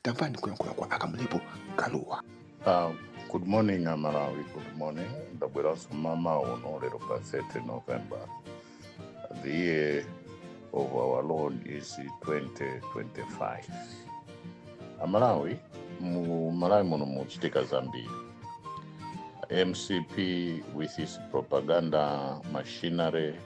Tamvani kuyankhula kwa Akamlepo Kalua. Uh, good morning amalawi good morning ndabweranso mama uno lero pa 30 november the year of our lord is 2025 amalawi mu malawi muno muchitika zambiri mcp with its propaganda machinery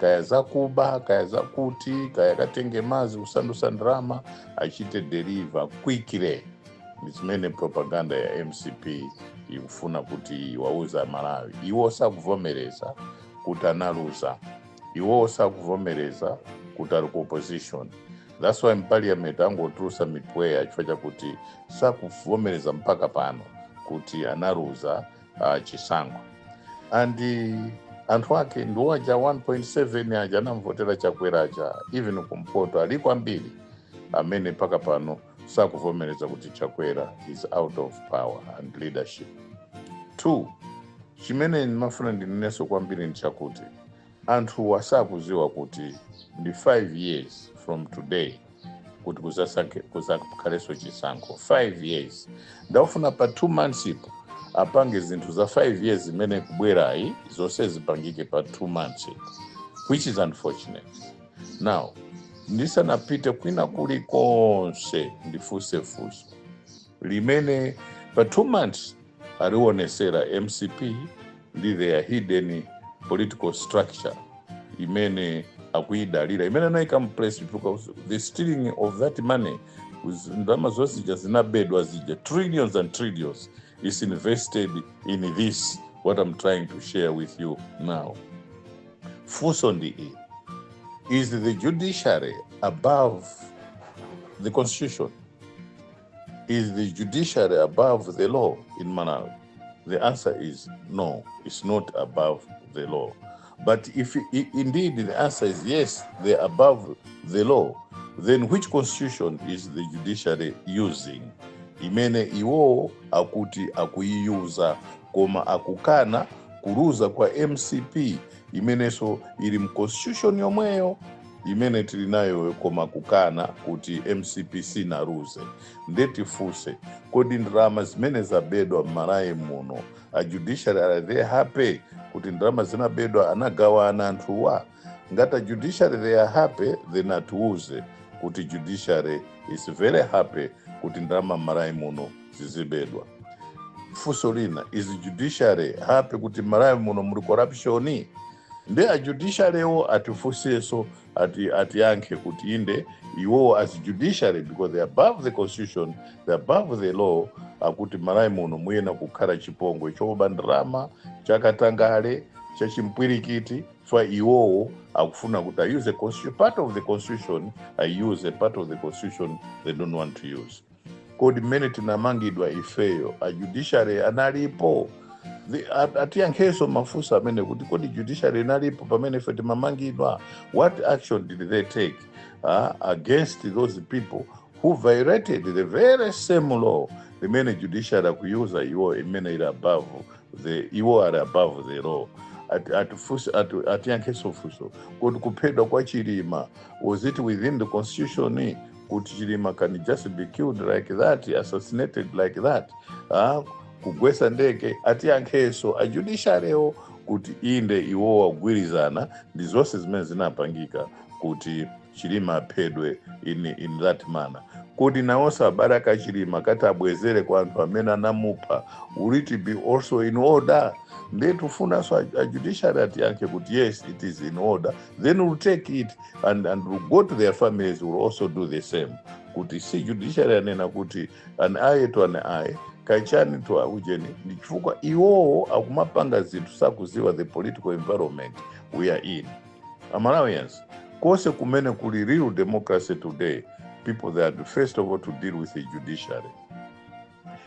kaya zakuba kaya zakuti kaya katenge madzi kusandutsa ndalama achite deliver quickly ndi zimene propaganda ya mcp ikufuna kuti iwauze amalawi iwo sakuvomereza kuti analuza iwo sakuvomereza kuti ali ku opposition that's why mparliament akungotulutsa mipweya chifukwa chakuti sakuvomereza mpaka pano kuti analuza uh, chisankho and anthu ake ndiwo aja 1.7 aja anamvotera chakwera aja even kumpoto aliko ambiri amene mpaka pano sakuvomereza kuti chakwera is out of power and leadership two chimene ndimafuna ndinenenso kwambiri ndichakuti Anthuwa sakuziwa kuti ndi 5 years from today kuti kuzakhalenso chisankho 5 years nde akufuna pa 2 monthspo apange zinthu za 5 years imene ikubwerayi zonse zipangike pa 2 monthspo which is unfortunate now ndisanapite kwina kuli konse ndifunse funso limene pa two months aliwonetsera mcp ndi their hidden political structure imene akuidalira imene anayika mplace because the stealing of that money ndalama zonse zija zinabedwa zija trillions and trillions is invested in this what i'm trying to share with you now funso ndi ili is the judiciary above the constitution Is the judiciary above the law in Malawi? The answer is no, it's not above the law. But if indeed the answer is yes, they're above the law, then which constitution is the judiciary using? Imene iwo akuti akuyiuza koma akukana kuluza kwa MCP imenenso ili mu constitution yomweyo imene tili nayo koma kukana kuti mcp sinaluze nde tifunse kodi ndalama zimene zabedwa mmalawi muno a judiciary are they happy kuti ndalama zinabedwa anagawana anthuwa ngati a judiciary they are happy then atiuze kuti judiciary is very happy kuti ndalama mmalawi muno zizibedwa funso lina is judiciary happy kuti mmalawi muno muli corruption nde a judiciary wo atifunseso ati atiyankhe kuti inde iwowo as judiciary because they are above the constitution they are above the law akuti m'malawi muno muyenera kukhala chipongwe choba ndalama chakatangale chachimpwirikiti chifukwa iwowo akufuna kuti ayuse constitution part of the constitution ayuse part of the constitution they don't want to use kodi mmene tinamangidwa ifeyo a judiciary analipo The- at- atiyankhenso mafunso amene kuti kodi judiciary inalipo pamene ife timamangidwa what action did they take uh, against those people who violated the very same law imene judiciary akuyuza iwo imene ili above the iwo ali above the law Ati- atifunse- ati- atiyankhenso funso kodi kuphedwa kwa chilima was it within the constitution kuti chilima can just be killed like that assassinated like that ah, kugwesa ndege atiyankheso a judiciary wo kuti inde iwo wagwirizana ndi zonse zimene zinapangika kuti chilima aphedwe in, in that manner kodi nawonso abale akachilima akati abwezere kwa anthu amene anamupha will it be also in order ndiye tifunanso ajudiciary atiyankhe kuti yes it is in order then we'll take it and, and we'll go to their families we'll also do the same kuti si judiciary anena kuti an eye to an eye kachani to ujeni ndi chifukwa iwowo akumapanga zinthu sakuziwa the political environment we are in amalawians konse kumene kuli real democracy today people that first of all to deal with the judiciary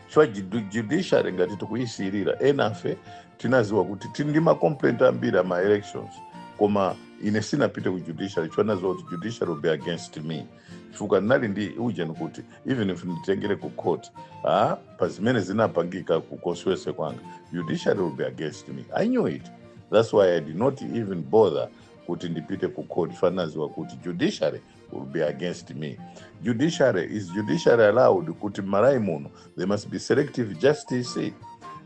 chifukwa judu- judiciary ngati tikuyisiyirira enafe tinaziwa kuti tili ndi macomplaint ambiri a ma elections koma ine sinapite ku judiciary chifukwa naziwa kuti judiciary will be against me chifukwa ndinali ndi ujeni kuti even if nditengere ku court ah, pa zimene zinapangika ku constituency kwanga judiciary will be against me i knew it that's why i did not even bother kuti ndipite ku court chifukwa naziwa kuti judiciary will be against me. Judiciary is judiciary allowed kuti m'malawi muno there must be selective justice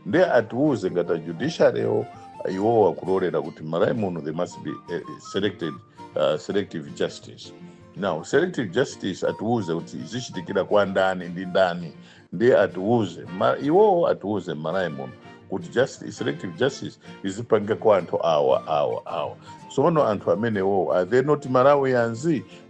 nde atiuze ngati ajudiciarywo iwowo akulolera kuti m'malawi muno there must be eh, selected, uh, selective justice now selective justice atiuze kuti zichitikira kwa ndani ndi ndani ndiye atiuze ma, iwowo atiuze m'malawi muno kuti justice, selective justice izipanga kwa anthu awa awa awa sono anthu amenewo are they not malawians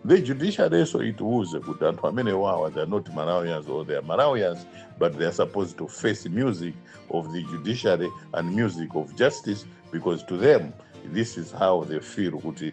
the judiciary so itiuze kuti anthu amenewo awa they are not malawians or they are malawians but they are supposed to face music of the judiciary and music of justice because to them this is how they feel kuti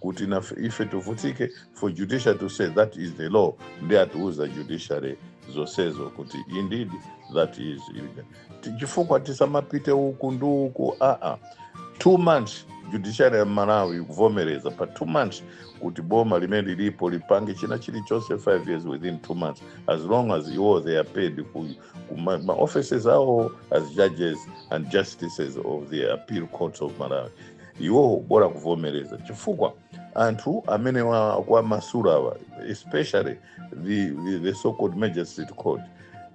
kuti nafe ife tivutike for judiciary to say that is the law ndiye atiuza judiciary zonsezo kuti indeed that is Ti- chifukwa tisamapite uku ndi uku aa two months judiciary ya malawi ikuvomereza pa two months kuti boma limene lilipo lipange china chilichonse five years within two months as long as iwo they are paid ku- ma, ma offices awo as judges and justices of the appeal courts of malawi iwowo bola kuvomereza chifukwa anthu amene wa- akuwamasula awa especially the, the, the so called magistrate court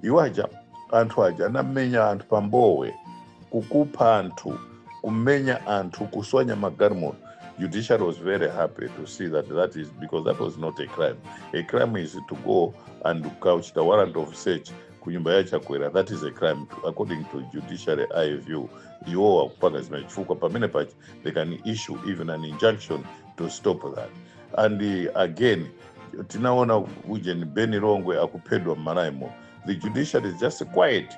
iwo aja anthu aja anamenya anthu pa Mbowe kukupha anthu kumenya anthu kuswanya magalimoto judiciary was very happy to see that that is because that was not a crime a crime is to go and kukachita warrant of search kunyumba ya chakwera that is a crime to, according to judiciary eye view iwowo akupanga zimenezi chifukwa pamene paja they can issue even an injunction to stop that and uh, again tinaona ujeni beni longwe akuphedwa m'Malawimo the judiciary is just quiet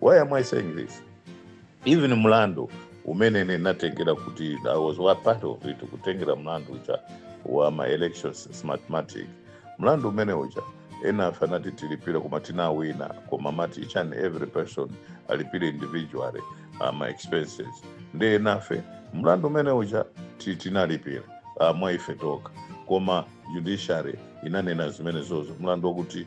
Why am I saying this? Even mlandu umene ninatengera kuti I was wa part of it kutengera mlandu uja wa ma elections smartmatic mlandu umene uja enafe anati tilipire koma tinawina koma amati each and every person alipire individually uh, ma expenses nde enafe mlandu umene uja ti- tinalipira uh, mwa ife tokha koma judiciary inanena zimenezozo mlandu wakuti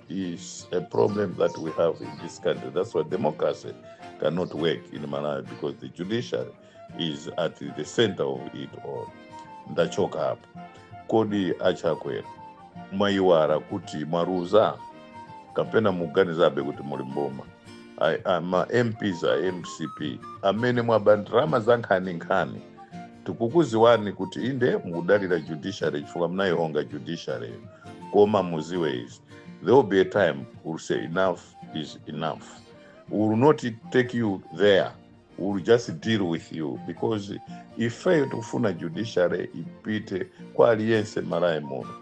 is a problem that we have in this country. That's why democracy cannot work in Malawi because the judiciary is at the center of it all. Ndachoka apo. Kodi achakwera mwaiwala kuti mwaluza kapena mukuganizabe kuti muli m'boma Ai- a- ma mps a mcp amene mwaba ndalama za nkhaninkhani tikukuziwani kuti inde mukudalira judiciary chifukwa munaihonga judiciary-yo koma muziwe izi there will be a time we'll say enough is enough we will not take you there we will just deal with you because ifeyo tikufuna judiciary ipite kwa aliyense m'Malawi muno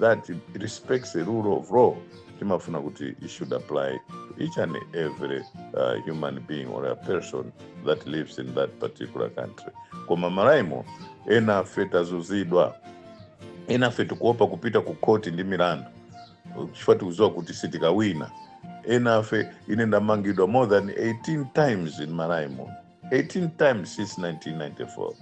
that it respects the rule of law timafuna kuti it should apply to each and every uh, human being or a person that lives in that particular country koma m'Malawimo enafe tazunzidwa enafe tikuopa kupita ku khoti ndi milandu chifukwa tikuziwa kuti sitikawina enafe ine ndamangidwa more than 18 times m'Malawimo 18 times since 1994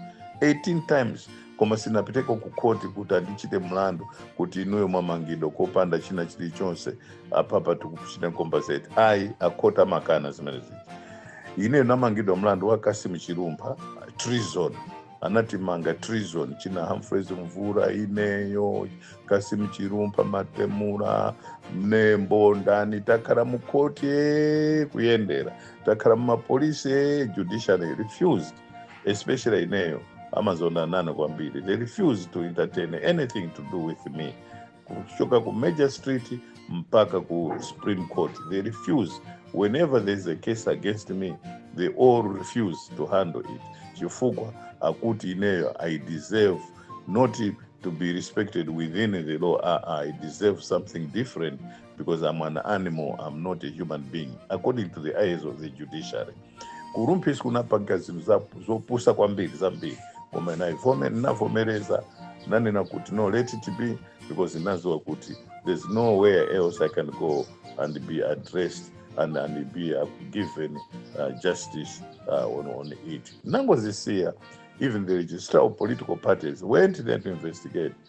18 times koma sinapiteko ku khoti kuti andichite mlandu kuti inuyo mwamangidwa kopanda china chilichonse apapa tikuchita compensate ayi akhoti amakana zimene zija ineyo namangidwa mlandu wa Kassim Chilumpha treason anatimanga treason china humphreys Mvula ineyo Kassim chilumpha Matumula mnembo ndani takhala mukhoti ee, kuyendera takhala mumapolisi eh, judiciary refused especially ineyo amazonda nane kwambiri they refused to entertain anything to do with me kuchoka ku major street mpaka ku supreme court they refuse whenever there is a case against me they all refuse to handle it chifukwa akuti ineyo i deserve not to be respected within the law ah, ah, i deserve something different because I'm an animal, I'm not a human being, according to the eyes of the judiciary. Kurumpis kunapanga zinthu za- zopusa kwambiri zambiri koma naivome ndinavomereza nanena kuti no let it be because ndinaziwa kuti there's nowhere else I can go and be addressed and, and be uh, given uh, justice uh, on, on it. Nangozisiya, even the registrar of political parties went there to investigate.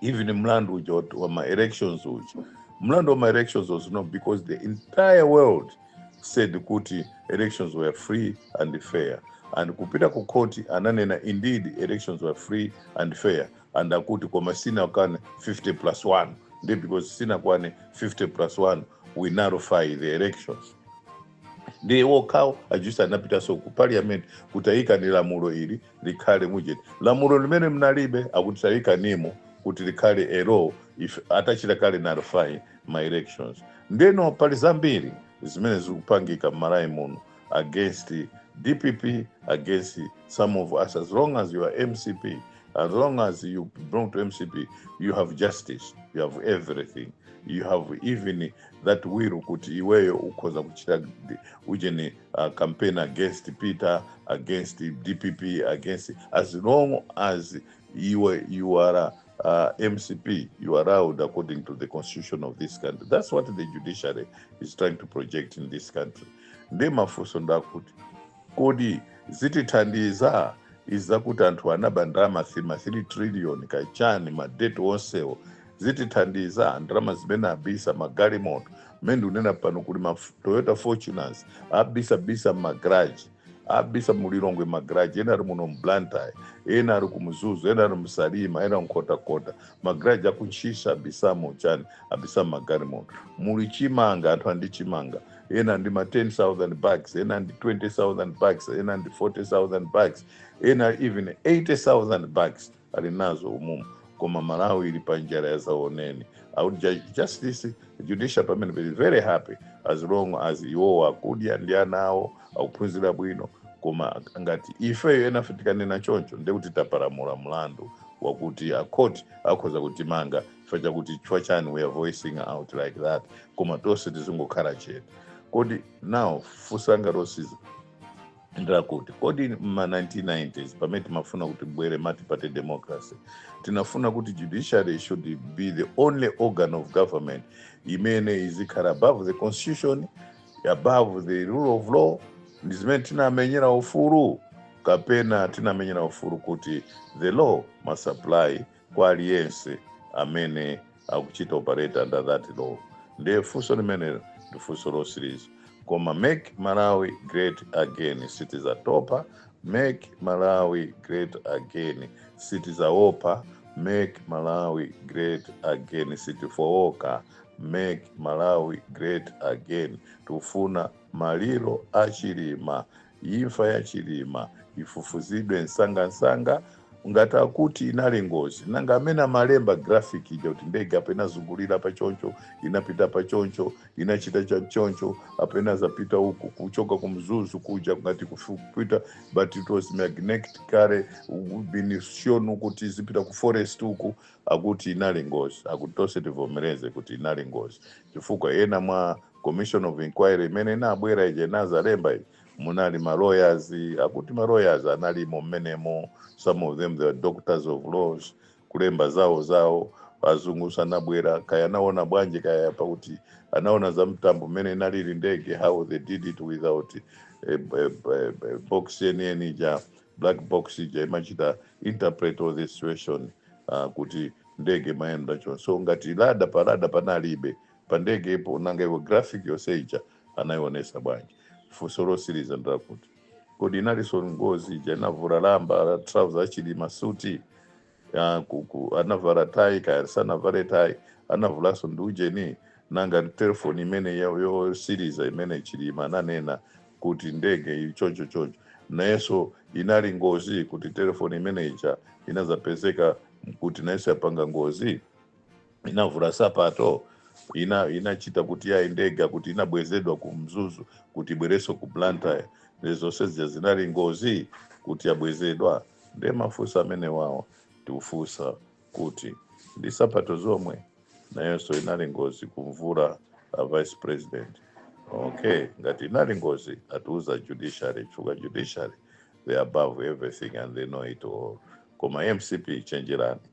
even mlandu uja wa- wa ma elections uja mlandu wa ma elections was not because the entire world said kuti elections were free and fair and kupita ku court ananena indeed elections were free and fair and akuti koma sinakwane 50 plus 1 ndi because sinakwane 50 plus 1 we nullify the elections ndiye wokhawo ajaji anapitaso ku parliament kuti ayikeni lamulo ili likhale mujeni lamulo limene mnalibe akuti tayikanimo kuti likhale elo ife atachita kale nullify ma elections ndeno pali zambiri zimene zikupangika mmalawi muno against dpp against some of us as long as you are mcp as long as you belong to mcp you have justice you have everything you have even that will kuti iweyo ukhoza kuchita ujeni uh, campaign against Peter, against DPP, against as long as you are, you are a, uh, MCP, you are allowed according to the constitution of this country. That's what the judiciary is trying to project in this country. Nde mafunso ndakuti kodi zitithandiza izakuti anthu anaba ndalama 3 trillion kachani madeti onsewo zitithandiza ndalama zimene abisa magalimoto mmene ndikunena pano kuli ma toyota fortuners abisabisa mmagaraji abisa mulilongwe magaraji ena ali muno mblantyre ena ali kumzuzu ena ali msalima ena mkhotakota magaraji akuntchisi abisamo chani abisa magalimoto muli chimanga anthu andi chimanga ena ndi ma 10000 bags ena ndi 20000 bags ena ndi 40000 bags ena even 80000 bags ali nazo umumu koma malawi ili pa njala ya zaoneni i would judge justice judicial pamene be very happy as long as iwowo akudya ndi ana awo akuphunzira bwino koma ngati ifeyo enafe tikanena choncho ndekuti tapalamula mlandu wakuti akhoti akhoza kutimanga chifukwa chakuti chifukwa chani we are voicing out like that koma tonse tizingokhala chete kodi now funso langa losiza ndi lakuti kodi mma 1990s pamene timafuna kuti ibwere multiparty democracy tinafuna kuti judiciary should be the only organ of government imene izikhala above the constitution above the rule of law ndi zimene tinamenyera ufulu kapena tinamenyera ufulu kuti the law must apply kwa aliyense amene akuchita operate under that law ndiye funso limenelo ndi funso lotsiliza koma make malawi great again sitizatopa make malawi great again sitizaopa make malawi great again sitifooka make malawi great again tufuna maliro achilima Imfa ya Chilima ifufuzidwe msangamsanga ngati akuti inali ngozi nanga amene amalemba graphic ija kuti ndege apo inazungulira pa choncho inapita pa choncho inachita cha choncho apo inadzapita uku kuchoka ku mzuzu kuja ngati kufu- kupita but it was magnetically been shown kuti izipita ku forest uku akuti inali ngozi akuti tonse tivomereze kuti inali ngozi chifukwa ena mwa Commission of inquiry imene inabwera ija inadzalemba iyi munali ma lawyers akuti ma lawyers analimo mmenemo some of them they were doctors of laws kulemba zawo zawo azungu sanabwera kaya anaona bwanji kaya pakuti anaona za mtambo mmene inalili ndege how they did it without eh, eh, eh, eh, box yeniyeni ija black box ija imachita interpret all the situation uh, kuti ndege mayenda chonse so ngati radar pa radar panalibe pa ndege po nanga iwo graphic yonse ija anayionesa bwanji funso lotsiriza ndi lakuti kodi inalinso ngozi ija inavula lamba la trouser achilima suti ya kuku anavala tai kaya sanavale tai anavulanso ndi ujeni nanga telefoni imene yo- yotsiriza imene chilima ananena kuti ndege iyi choncho choncho nayonso inali ngozi kuti telefoni imene ija inadzapezeka kuti nayonso yapanga ngozi inavula nsapato inachita kuti yayi ndege kuti inabwezedwa ku mzuzu kuti ibwerenso ku blantyre ndi zonse zija zinali ngozi kuti yabwezedwa nde mafunso amene wawo tikufunsa kuti ndi nsapato zomwe nayonso inali ngozi kumvula a vice president okay ngati inali ngozi atiuza judiciary chifukwa judiciary they are above everything and they know it all koma mcp chenjerani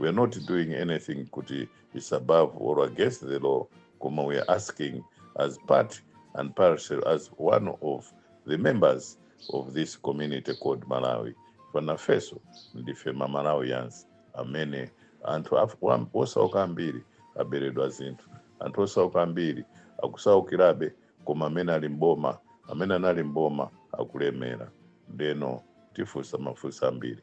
we are not doing anything kuti is above or against the law koma we are asking as part and parcel as one of the members of this community called malawi pena ifenso ndife mamalawians amene anthu af- wam- osauka ambiri aberedwa zinthu anthu osauka ambiri akusaukirabe koma amene ali mboma amene anali mboma akulemera ndeno tifunsa mafunso ambiri